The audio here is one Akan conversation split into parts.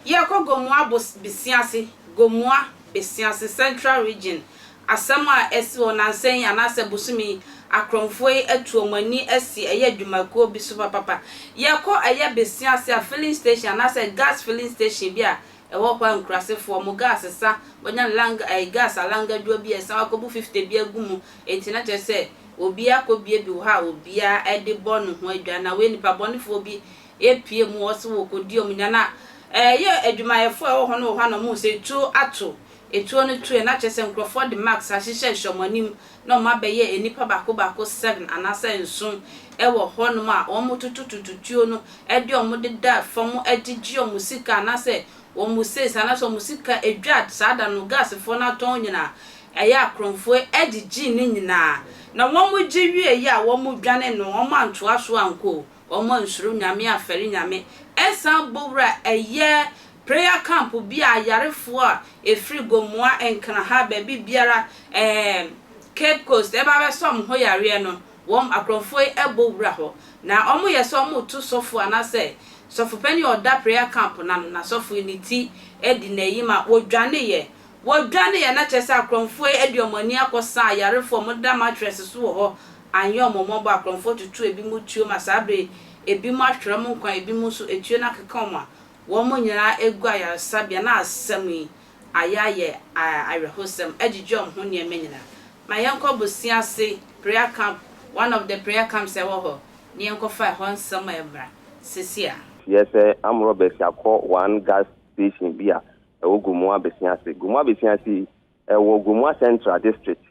Yɛkɔ Gomoa Bosiase, Gomoa Besiase Central Region, asɛm a asi hɔ nansa yi anaasɛ bosome yi, akorɔmfoɔ yi atu wɔn ani asi ɛyɛ adwumakuo bi so papapa. Yɛkɔ ɛyɛ Besiase a filling station anaasɛ gas filling station bi a Ɛhɔ koraa nkurasefoɔ ɔmo gas sa wɔnya lang ɛɛ gas alangadwoa bi a ɛsa hɔ akɔbu fifte bi agu mu enti na kyerɛ sɛ obiara akɔbie bi wɔ hɔ a obiara ɛde bɔ ne ho adwan na wei nipa bɔnefoɔ bi epie mu wɔ se wɔkɔdi ɔmo nya na ɛyɛ adwumayɛfoɔ a ɛwɔ hɔ no wɔ hɔ a na ɔmo hu sɛ etuo ato etuo no toɛ na kyerɛ sɛ nkorɔfoɔ de mask ahyehyɛ hyɛ ɔmo anim na wɔabɛyɛ nnipa baako baako seven anaasɛ nson wɔ hɔnom a wɔtoto tututuo no de wɔn deda fam de gye wɔn sika anaasɛ wɔn sales anaasɛ wɔn sika dwa a saa da no gasfoɔ no atɔn nyinaa. Ɛyɛ a Kronfoɔ gyegyee ne nyinaa na wɔgye wieeɛ a wɔdwane no wɔantoa so ankɔ o. wɔansuro Nyame amfɛre Nyame ɛsan bɔ wura ɛyɛ prayer camp bi a ayarefoɔ a ɛfiri Gomoa, Nkraha, baabi biara ɛɛ Cape Coast ɛba abɛsɔ wɔn ho yareɛ no wɔn akorɔmfoɔ yi ɛbɔ wura hɔ na wɔyɛ sɛ wɔreto sɔfo anaasɛ sɔfopanin a ɔda prayer camp no ano na sɔfo yi ne ti adi n'ayi ma wɔdwaneeɛ wɔdwaneeɛ na kyerɛ sɛ akorɔmfoɔ yi de wɔn ani akɔsa ayarefoɔ a wɔda mattress so wɔ hɔ annyɛ ɔmo mmɔbɔ a krɔnfoɔ tutu ebinom tuo ma saa bere yi ebinom ahwere ɔmo nkwa ebinom nso etuo no akeka ɔmo a wɔn nyinaa egu ayaresabea na asɛm yi ayɛ ayɛ awerɛhosɛm agyigye ɔmo ho nneɛma nyinaa ma yɛnkɔ bosea ase prayer camp one of the prayer camps a ɛwɔ hɔ na yɛnkɔfa ɛhɔ nsɛm a ɛmmra sɛsi a. Teɛ sɛ armed robbers akɔ one gas station bi a ɛwɔ Gomoa Besia ase. Gomoa Besia ase yi, ɛwɔ Gomoa Central District.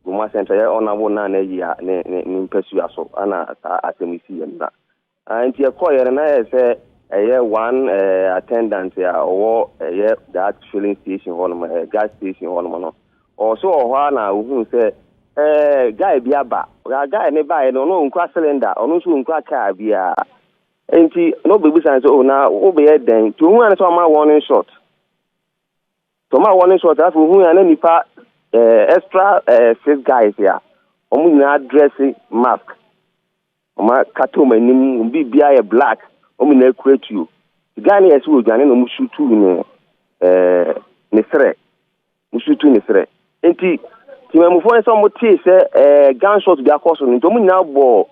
Bɔ mu asɛnka yɛ ɔna wo na na yia ne ne ne mpasua so ana saa asɛm yi si yɛ na ah, nti ɛkɔ yɛ no na yɛ sɛ ɛyɛ one eh, attendant a ɔwɔ ɛyɛ that filling station hɔ nom eh, gas station hɔ nom no ɔso wɔ hɔ a na ohun sɛ eh, guy bi aba guy ne baeɛ no ɔno ɔnkura cylinder ɔno nso ɔnkura car biara nti na ɔbɛbisa sɛ oh na wobɛyɛ dɛn nti ohun ano sɛ ɔma wɔn short Tɔm a wɔne short afei ohun a na nipa ɛɛ eh, extra ɛɛ eh, six guys a wɔn nyinaa dresse mask wɔn akata wɔn anim wɔn biribiara yɛ black wɔn nyinaa kura tuo guy no yɛ sɛ wɔdwane na wɔn sutu ne ɛɛ eh, ne serɛ wɔn sutu ne serɛ nti tìmɛmufoɔ no sɛ wɔn tee sɛ ɛɛ gun shot bi akɔ so no nti wɔn nyinaa bɔ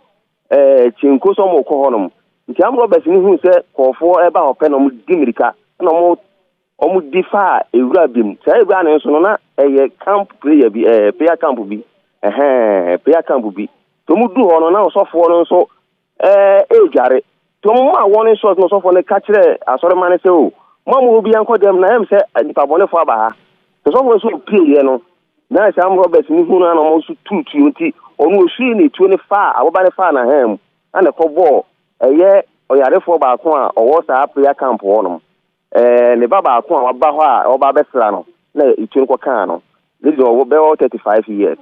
ɛɛ kyenko sɛ wɔn kɔ hɔ nom nti amrɔbɛs no hu sɛ kɔɔfoɔ ɛba hɔ pɛ na wɔn di mirika na wɔn Wɔde faa ewura bi mu. Saa ewura no nso no, na ɛyɛ camp prayer bi, ɛɛ prayer camp bi. Ɛhɛn, prayer camp bi. Nti wɔn du hɔ no, na ɔsɔfoɔ no nso ɛɛ ɛredware. Nti wɔn maa wɔn nsuo no ɔsɔfoɔ no ka kyerɛɛ asɔrema no sɛ o, mo a mo wɔ biara nkɔ dɛm na ɛyɛ mi sɛ nipa bɔnefoɔ aba ha. Nti ɔsɔfoɔ no nso opie yɛ no, na saa robbers no hu no na wɔn nso tuu tuo. Nti ɔno osui ne tuo no faa aboba no faa n'ahan mu ɛna ɛkɔ bɔɔ ɛyɛ ɔyarefoɔ baako a ɔwɔ saa prayer camp hɔ nom. Ɛɛ, ne ba baako a waba hɔ a ɔba abɛsra no na etu no kɔkaa no. Ne deɛ ɔwɔ bɛwɔ thirty five years.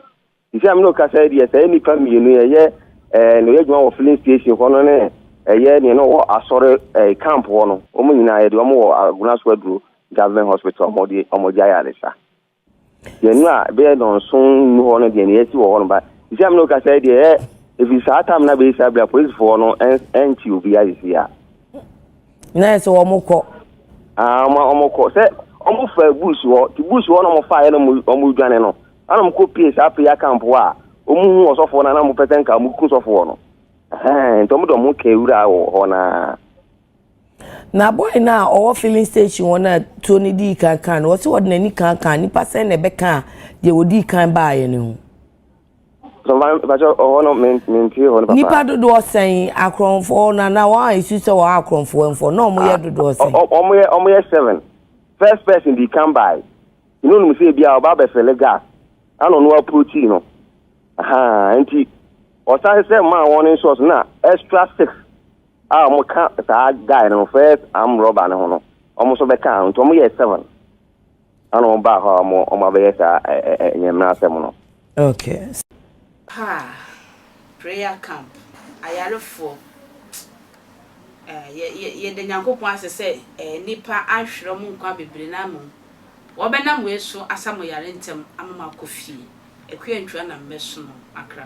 Sisi a me ne okasa yi deɛ saa nnipa mmienu ɛyɛ ɛɛ na ɔyɛ adwuma wɔ filling station hɔ no ne ɛyɛ nea na ɔwɔ asɔre ɛɛ camp hɔ no. Wɔn nyinaa yɛde wɔn wɔ Agunaso Aduro Government Hospital wɔn de wɔn gyae ayaresa. Yɛn no a ɛbɛyɛ nnɔnson nnu hɔ no deɛ ne yɛasi wɔ hɔ no ba sisi a mene wo kasa yi deɛ ɛ ɛfiri saa tam no abɛyɛ saa bere a polisifoɔ no ɛnkye obi asisi a na ɛsɛ wɔn kɔ wɔn kɔ sɛ wɔn fa bush hɔ ti bush hɔ na wɔn fa yɛ na wɔn dwane no ana wɔn kɔ pie saa pie akampo a wɔn hu ɔsɔfoɔ no ana wɔn pɛ sɛ nka wɔn ku sɔfoɔ no ɛhɛn nti wɔn de wɔn kɛ wura wɔ hɔ naa. Na boy no a ɔwɔ filling station hɔ no a tuo no dii kan kaa no, ɔse ɔde n'ani kaa kaa nipa sɛn na ɛbɛkaa deɛ ɔdii kan baeɛ no ho. nipa dodoɔ sɛn akorɔmfoɔ na na wɔn a ɛsu sɛ wɔn akorɔmfoɔ mfoɔ na wɔn yɛ ah, dodoɔ sɛn. wɔn yɛ seven first person di kan bae ɛna onum sɛ ebi a ɔba abɛfɛle gas ana ɔno approachi no nti ɔsan sɛ maa wɔn nsɔs na extra six. a wɔn ka saa guy no first arm robber no ho no wɔn nso bɛ ka nti wɔn yɛ seven ɛna wɔn baa hɔ a wɔn wɔn abɛyɛ saa ɛ ɛ ɛ nyɛmina asɛm no. Okay. Paa, prayer camp, ayarefoɔ, yɛ yɛ yɛda Nyankopɔn ase sɛ ɛɛ nnipa ahwerɛ mo nkwa bebree na mmom wɔbɛnam wei so asa mo yare ntɛm ama mo akɔ fie. Akua ntua na mɛsono akra.